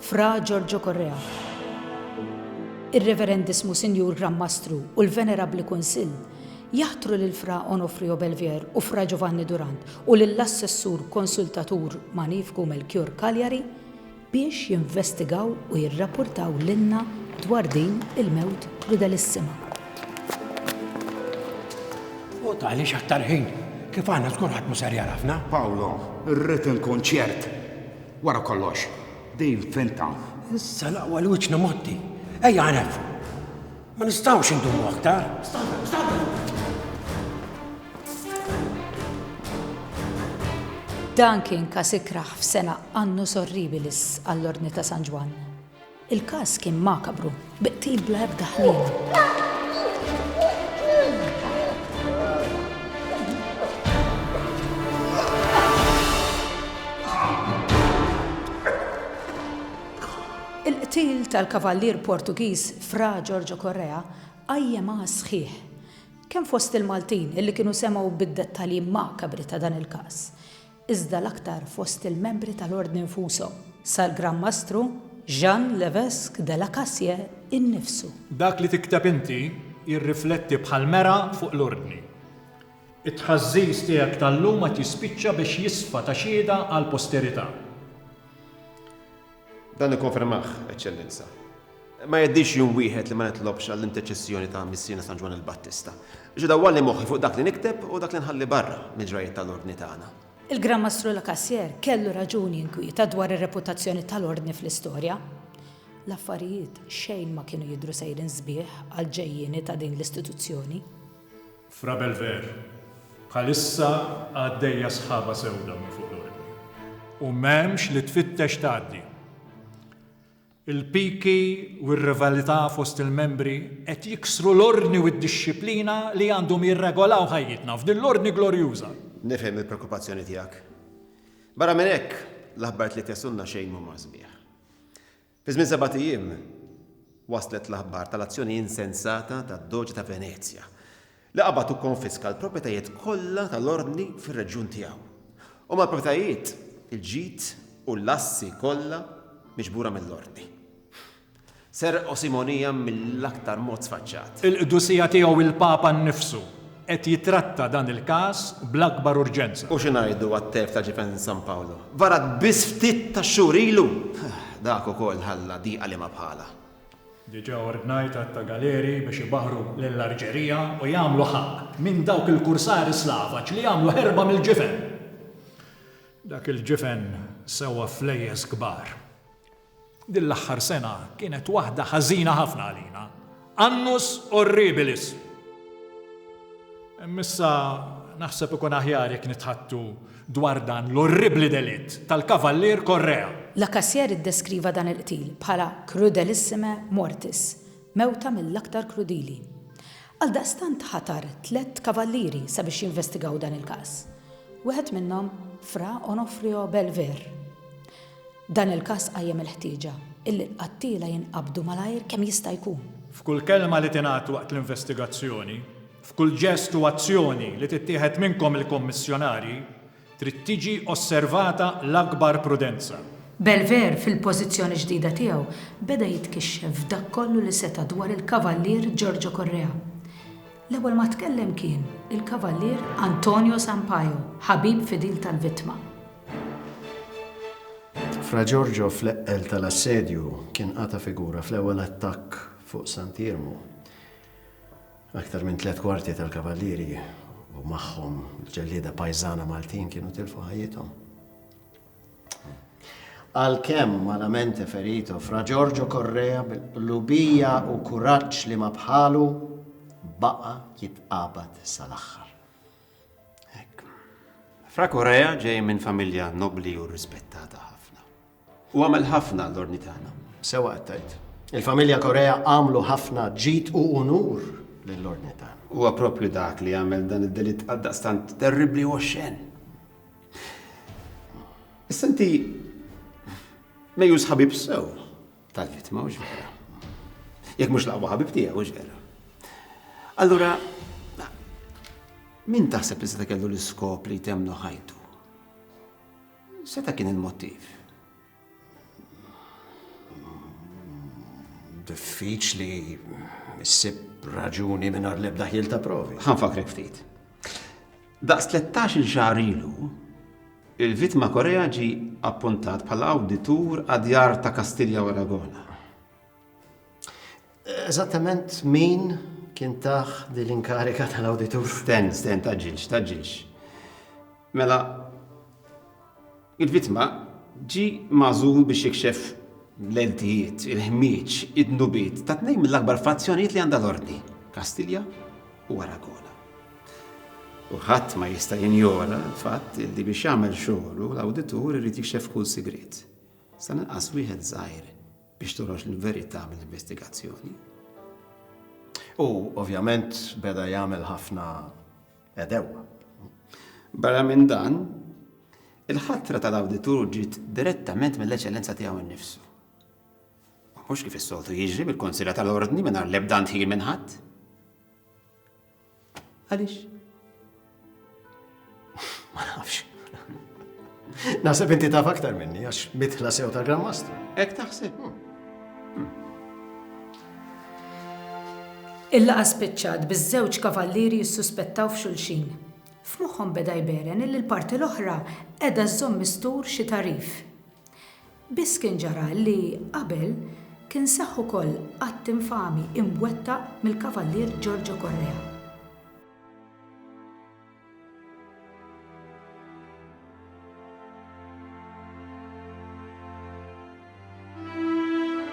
Fra Giorgio Correa, ir-Reverendiss Musinjur Gran Mastru u l-Venerabbli Kunsill jaħtru lil Fra Onofrio Belvier u Fra Giovanni Durant u lill-Assessur Konsultatur Magnifiku Melchior Cagliari biex jinvestigaw u jirrappurtaw lilna dwar din il-mewt krudelissima. U tagħliex aktar ħin? Kif għadna żgur ħadd mhu ser jagħrafna. Paolo, irrid inkun ċert. Wara kollox, Dave fejn taf? Issa l-aqwa li wiċċna mgħotti. Ejja nefqu. Ma nistgħux indumu aktar. Stanna, stanna! Dan kien każ ikrah f'sena annus horribilis għall-Ordni ta' San Ġwann. Il-każ kien makabru, bi qtil bla ebda ħlief. Il-qtil tal-Kavallier Portugiż Fra Giorgio Correa qajjem għas sħiħ, kemm fost il-Maltin illi kienu semgħu bid-dettalji makabri ta' dan il-każ, iżda l-aktar fost il-membri tal-Ordni nfushom, sal-Gran Mastru Jean Levesque de la Cassière innifsu. Dak li tikteb inti jirrifletti bħall-mergħa fuq l-Ordni. It-tħażżiż tiegħek tal-lum għad jispiċċa biex jisfa ta' xhieda għall-posterità. Dan ikkonfermah, Eċċellenza. Ma jgħaddix jum wieħed li ma nitlobx għall-interċessjoni ta' Missierna San Ġwann il-Battista, biex idawwalni moħħi fuq dak li nikteb u dak li nħalli barra mill-ġrajjiet tal-Ordni tagħna. Il-Gran Mastru Lacassière kellu raġun jinkwieta dwar ir-reputazzjoni tal-Ordni fl-istorja. L-affarijiet xejn ma kienu jidhru sejrin sbieħ għall-ġejjieni ta' din l-istituzzjoni. Fra Bel Ver, bħalissa għaddejja sħaba sewda minn fuq l-ordni u m'hemmx li tfittex tgħaddi. Il-piki u r-rivalità fost il-membri qed jiksru l-ordni u d-dixxiplina li għandhom jirregolaw ħajjitna f'din l-ordni glorjuża. Nifhem il-preokkupazzjoni tiegħek. Barra minn hekk, l-aħbarijiet li qed jaslulna xejn m'huma sbieħ. Fi żmien sebat ijiem waslet l-aħbar tal-azzjoni insensata tad-Doge ta' Venezja, li qabad u kkonfiska l-proprjetajiet kollha tal-Ordni fir-reġjun tiegħu, u mal-proprjetajiet, il-ġid u l-assi kollha miġbura mill-Ordni. Serqu Simonija mill-aktar mod sfaċċat. Il-Qdusija Tiegħu il-Papa nnifsu qed jittratta dan il-każ bl-akbar urġenza. U xi ngħidu għat-telf ta' Jefenn San Paolo? Varat biss ftit tax-xhur ilu! Dak ukoll ħalla diqa liema bħalha. Diġà ordnajt għadd ta' galeri biex ibaħħru lill-Arġerija u jagħmlu ħaqq minn dawk il-kursari slavaġ li għamlu ħerba mill-ġifen! Dak il-ġifen sewa flejjes kbar. Din l-aħħar sena kienet waħda ħażina ħafna għalina, annus horribilis. Imma issa naħseb ikun aħjar jekk nitħaddtu dwar dan l-orribbli delitt tal-Kavallier Correa. Lacassiere iddeskriva dan il-qtil bħala crudelissime mortis, mewta mill-aktar krudili. Għaldaqstant ħatar tliet kavallieri sabiex jinvestigaw dan il-każ. Wieħed minnhom Fra Onofrio Belver. Dan il-każ qajjem il-ħtieġa illi l-qattiela jinqabdu malajr kemm jista' jkun. F'kull kelma li tingħad waqt l-investigazzjoni, f'kull ġest u azzjoni li tittieħed minnkom il-Kummissjonarji, trid tiġi osservata l-akbar prudenza. Belver, fil-pożizzjoni ġdida tiegħu, beda jitkixxef f'dak kollu li seta' dwar il-Kavallier Giorgio Correa. L-ewwel ma tkellem kien il-Kavallier Antonio Sampaio, ħabib fidil tal-vittma. Fra Giorgio fl-eqqel tal-assedju kien qata' figura fl-ewwel attakk fuq Sant'Iermu. Aktar minn tliet kwarti tal-Kavallieri u magħhom il-ġellieda pajżana Maltin kienu tilfu ħajjithom. Għalkemm malamente ferito Fra Giorgio Correa bil-qlubija u kuraġġ li ma bħalu baqa' jitqabad sal-aħħar. Hekk. Fra Correa ġej minn familja nobbli u rispettata ħafna. U għamel ħafna l-ordni tagħna. Sewa qed tgħid. Il-familja Correa għamlu ħafna ġid u unur lill-ordni tagħna. Huwa proprju dak li għamel dan id-delitt għaldaqstant terribbli u oxxen. Issa inti mejjus ħabib sew tal-vittma u x'vera. Jekk mhux laqwa ħabib tiegħek u x'vera. Allura, min taħseb li seta' kellu l-iskop li jtemnu ħajtu? Seta' kien il-motiv. Diffiċli issib raġuni mingħajr l-ebda ħil ta' provi. Ħanfakrek ftit. Daqs 13-il xahar ilu, il-vittma Korea ġie appuntat bħala awditur għad-djar ta' Kastilja u Aragona. Eżattament min kien taħ din l-inkarika tal-awditur? Sten, sten, taġġilx, taġġilx. Mela, il-vittma ġi mażul biex jikxef l-eltijiet, il-ħmieġ, id-nubiet ta' tnejn mill-akbar fazzjonijiet li għandha l-ordni, Kastilja u Aragona. U ħadd ma jista' jinjora l-fatt li biex jagħmel xogħlu l-awditur irid jikxef kull sigriet. Sa ninqas wieħed żgħir biex toħroġ l-verità mill-investigazzjoni. U ovvjament beda jagħmel ħafna edew. Barra minn dan, il-ħatra tal-awditur ġiet direttament mill-eċellenza tiegħu nnifsu. Mhux kif is-soltu jiġri mill-Konsilla tal-Ordni mingħajr l-ebda ntħil minn ħadd. Għaliex? Ma nafx. Naħseb inti taf aktar minni, għax mitħla sew ta' Grand Master. Ek taħseb? Hmm. Hmm. Il-laqa spiċċat biż-żewġ kavallieri jissuspettaw f'xulxin. F'moħħhom beda jberen il parti l-oħra edha żżomm mistur xi tarif. Biss kien ġara li qabel kien seħħ ukoll att infami imwettaq mill-Kavallier Giorgio Correa.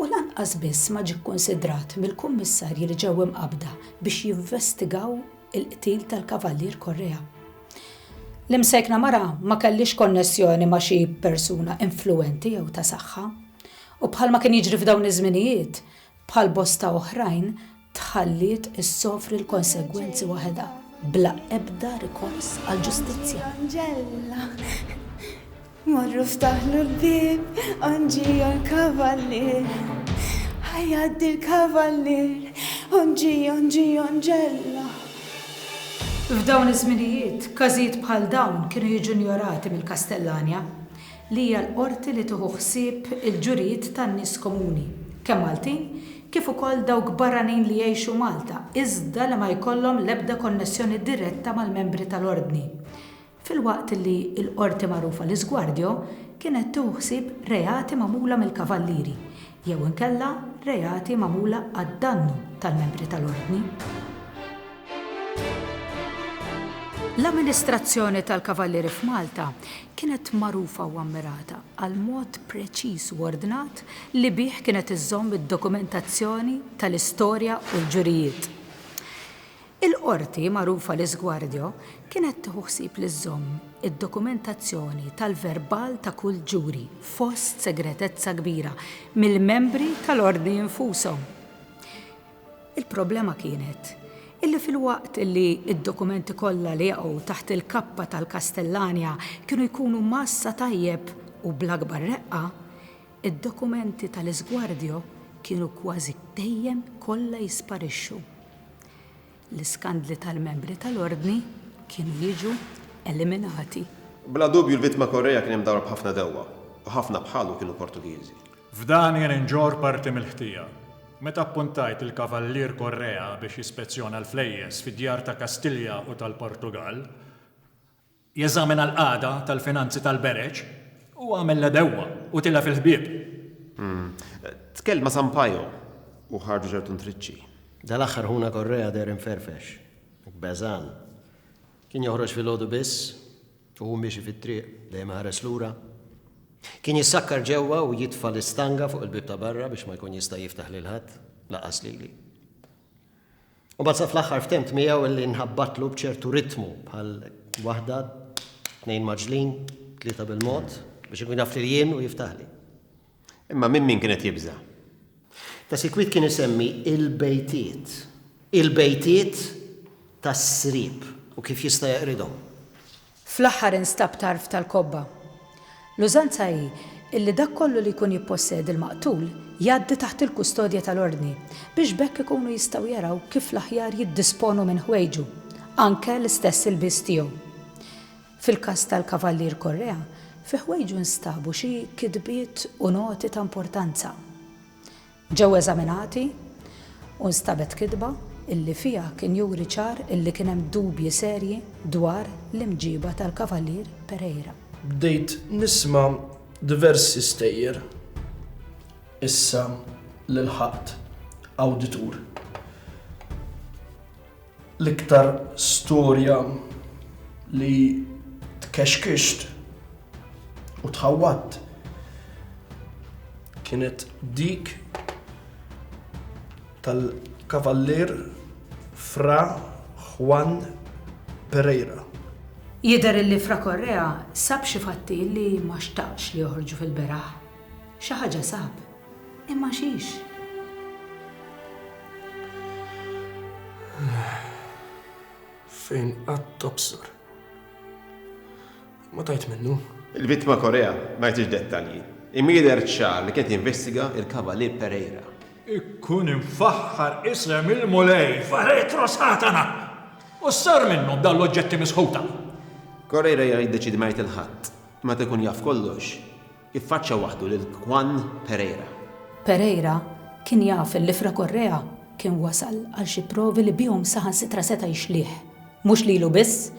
U lanqas biss ma ġie kkunsidrat mill-kummissarji li ġew imqabbda biex jinvestigaw il-qtil tal-Kavallier Correa. L-imsejkna mara ma kellhiex konnessjoni ma' xi persuna influwenti jew ta' saħħa. U bħalma kien jiġri f'dawn iż-żminijiet, bħal bosta oħrajn, tħalliet issofri l-konsegwenzi waħedha bla ebda rikors għall-ġustizzja. Anġella, morru ftaħlu l-bieb, onġiju l-kavallier. Ħajjaddi l-kavallier, onġiju, onġiju, Anġella. F'dawn iż-żminijiet, każijiet bħal dawn kienu jiġu injorati mill-Kastellanja. li hija l-qorti li tieħu ħsieb il-ġurijiet tan-nies komuni, kemm Maltin kif ukoll dawk barranin li jgħixu Malta iżda li ma jkollhom l-ebda konnessjoni diretta mal-membri tal-Ordni, filwaqt li l-qorti magħrufa L-Isguardio kienet tieħu ħsieb reati magħmula mill-Kavallieri jew inkella reati magħmula għad-dannu tal-membri tal-Ordni. L-amministrazzjoni tal-Kavallieri f'Malta kienet magħrufa u ammirata għall-mod preċiż u ordnat li bih kienet iżżomm id-dokumentazzjoni tal-istorja u l-ġurijiet. Il-Qorti, magħrufa l-Isguardio, kienet tieħu ħsieb li żżomm id-dokumentazzjoni tal-verbal ta' kull ġuri fost segretezza kbira mill-membri tal-Ordni infushom. Il-problema kienet illi filwaqt illi d-dokumenti kollha li jaqgħu taħt il-kappa tal-Castellania kienu jkunu mgħassa tajjeb u bl-akbar reqqa, id-dokumenti tal-Isguardio kienu kważi dejjem kollha jisparixxu. l-iskandli tal-membri tal-Ordni kienu jiġu eliminati. Bla dubju l-vittma Correia kien imdawwar b'ħafna dewwa, u ħafna bħalu kienu Portugiżi. F'dan jien inġorr parti mill-ħtija. Meta appuntajt lil Kavallier Correia biex jispezzjona l-flejjes fid-djar ta' Kastilja u tal-Portugall, Jeżamina l-qagħda tal-finanzi tal-bereġ, u għamel l-għedewwa, u tilef il-ħbieb. Tkellem ma' Sampaio, u ħarġu ċertu ntriċċi. Dal-aħħar ħuna Correa deher imferfex, beżgħan. Kien joħroġ filgħodu biss, u hu miexi fit-triq, dejjem iħares lura. Kien jissakkar ġewwa u jitfa' l-istanga fuq il-bieb ta' barra biex ma jkun jista' jiftaħ lil ħadd, lanqas lili. U mbagħad sa fl-aħħar ftemt miegħu illi nħabbatlu b'ċertu ritmu bħal waħda, tnejn maġlin, tlieta bil-mod, biex ikun jaf li jien u jiftaħli. Imma minn min kienet jibża'? Ta' sikwit kien isemmi il-bejtiet, il-bejtiet tas-srib u kif jista' jaqridhom. Fl-aħħar instab tarf tal-kobba. L-użanza hi illi dak kollu li jkun jippossedi l-maqtul jgħaddi taħt il-kustodja tal-Ordni biex b'hekk ikunu jistgħu jaraw kif l-aħjar jiddisponu minn ħwejġu, anke l-istess ilbies tiegħu. Fil-każ tal-Kavallier Correa, fi ħwejġu nstabu xi kitbiet u noti ta' importanza. Ġew eżaminati u nstabet kitba illi fiha kien juri ċar illi kien hemm dubji serji dwar l-imġiba tal-Kavallier Pereira. Bdejt nisma' diversi stejjer issa li lħaqt awditur. L-iktar storja li tkexkixt u tħawwadt kienet dik tal-Kavallier Fra Juan Pereira. Jidher li Fra Correa sab xi fatti li ma xtaqx li joħorġu fil-beraħ. Xi ħaġa sab, imma xiex? Fejn qatt tobsor. Ma tajt minnu. Il-vittma Correa ma jagħtix dettalji, imma jidher ċar li kien qed jinvestiga l-Kavalier Pereira. Ikkun imfaħħar isem il-Mulej f'aretro Satana! U s-sar minnhom dawn l-oġġetti misħuta? Correira jiddeċiedi ma jgħid il-Ħadd, meta jkun jaf kollox, Iffaċċja waħdu lil Juan Pereira. Pereira kien jaf li Fra Correa kien wasal għal xi provi li bihom saħansitra seta' jixlih, mhux lilu biss,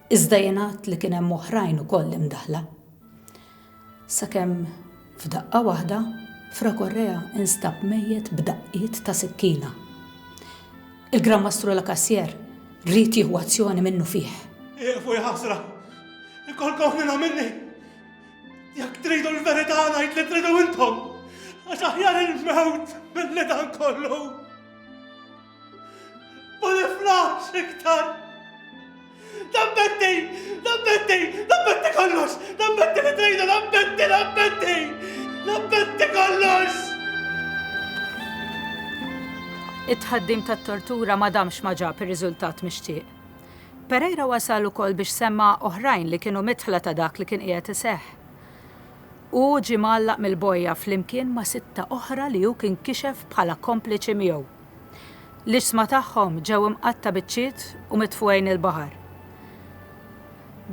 iżda jingħad li kien hemm oħrajn ukoll imdaħħla. Sakemm f'daqqa waħda, Fra Correa instab mejjet b'daqqiet ta' sikkina. Il-Gran Mastru Lacassière ried jieħu azzjoni minnufih. Ieqfu, jaħsra! Inkolkom f'minhom minni! Jekk tridu l-verità ngħid li tridu intom, għax aħjar il-mewt mill-li dan kollu. Ma niflax iktar. Dambetti, dambetti, dambetti kollox, dambetti li tridu, dambetti, dambetti, dambetti kollox. It-tħaddim tat-tortura ma damx ma ġab ir-riżultat mixtieq. Pereira wasal ukoll biex semma' oħrajn li kienu midħla ta' dak li kien qiegħed iseħħ. Hu ġie mgħallaq mill-bojja flimkien ma' sitta oħra li hu kien kixef bħala kompliċi miegħu. L-iġsma tagħhom ġew imqatta' biċċiet u mitfugħin il-baħar.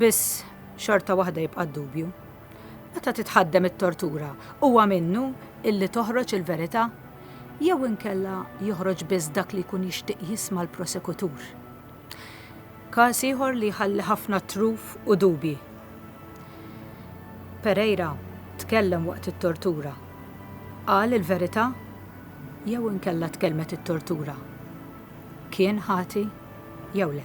Biss, xorta waħda jibqa' d-dubju. Meta titħaddem it-tortura, huwa minnu illi toħroġ il-verità? Jew inkella joħroġ biss dak li jkun jixtieq jisma' l-prosekutur? Każ ieħor li jħalli ħafna truf u dubji. Pereira tkellem waqt it-tortura. Qal il-verità? Jew inkella tkellmet it-tortura? Kien ħati jew le?